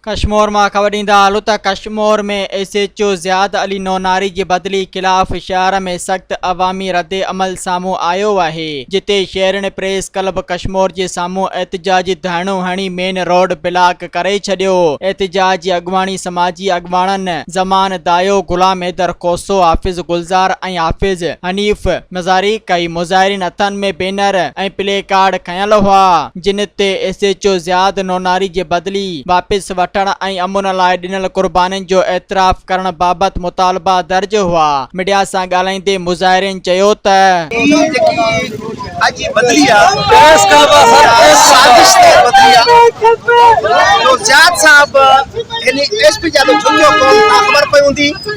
ڪشمور مان خبر ڏيندا هلون ته Kashmore ۾ S H O Ziyad Ali Nunari جي بدلي خلاف شهر ۾ سخت عوامي رد عمل سامهون آيو آهي جتي شهرين پريس ڪلب ڪشمور جي سامهون احتجاجي ڌرڻو هڻي مين روڊ بلاڪ ڪري ڇڏيو احتجاج جي اڳواڻي سماجي اڳواڻن زمان دايو غلام حيدر کوسو حافظ گلزار ۽ حافظ حنيف مزاري ڪئي مظاهرين هٿن ۾ بينر ۽ پلي ڪارڊ کنيل هئا. جن تي S H O Ziyad Nunari جي بدلي واپس وٺڻ ۽ امن لاء ڏنل قربانين جو اعتراف ڪرڻ بابت مطالبا درج هئا ميڊيا سان ڳالهائيندي مظاهرين چيو ته. هي جيڪي اڄ جي بدلي آ هي سازش تحت بدلي آ جو زياد صاحب هن ايس پي جي آڏو جهڪيو ڪونه ڪا خبر پئي هوندي.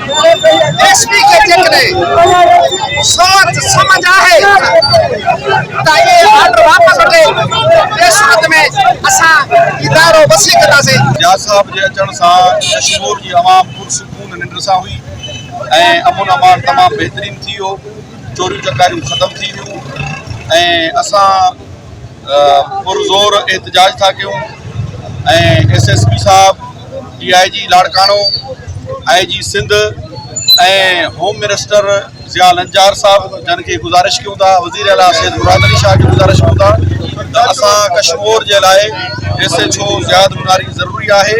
ايس پي کي جيڪڏهن سوچ سمجھ آهي ته اهي آرڊر واپس وٺي ٻي صورت ۾ اسان هي دائرو وسيع ڪنداسين. نياز صاحب جي اچڻ سان ڪشمور جي عوام پرسڪون ننڊ سان هئي ۽ امن امان تمام بهترين ٿي ويو چوريون چڪاريون ختم ٿي ويون ۽ اسان پرزور احتجاج ٿا ڪيون ۽ ايس ايس پي صاحب D I G Larkana I G Sindh ۽ home minister Zia Lanjar صاحب جن کي گزارش ڪيون ٿا وزير اعليٰ سيد مراد علي شاهه کي گزارش ڪيون ٿا ته اسان ڪشمور جي لاء S H O Ziyad Manari ضروري آهي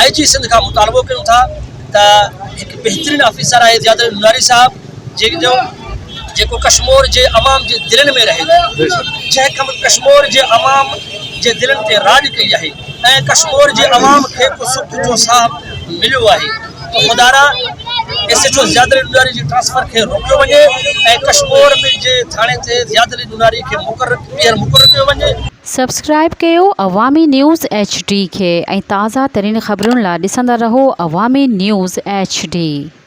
آء جي سنڌ کان مطالبو ڪيون ٿا ته هڪ بهترين آفيسر آهي زيادت نوراني صاحب جنهن جو جيڪو ڪشمور جي عوام جي دلن ۾ رهي جنهن کان ڪشمور جي عوام جي دلن تي راڄ ڪئي آهي ۽ ڪشمور جي عوام کي ڪو سک جو ساهه مليو آهي ته خدا را S H O Ziyad Noorani جي ٽرانسفر کي روڪيو وڃي ۽ ڪشمور ۾ جي ٿاڻي تي زيادت نوراني کي مقرر ٻيهر مقرر ڪيو وڃي سبسڪرائيب ڪيو عوامي نيوز ايڇ ڊي کي ۽ تازه ترين خبرن لا ڏسندا رهو عوامي نيوز ايڇ ڊي.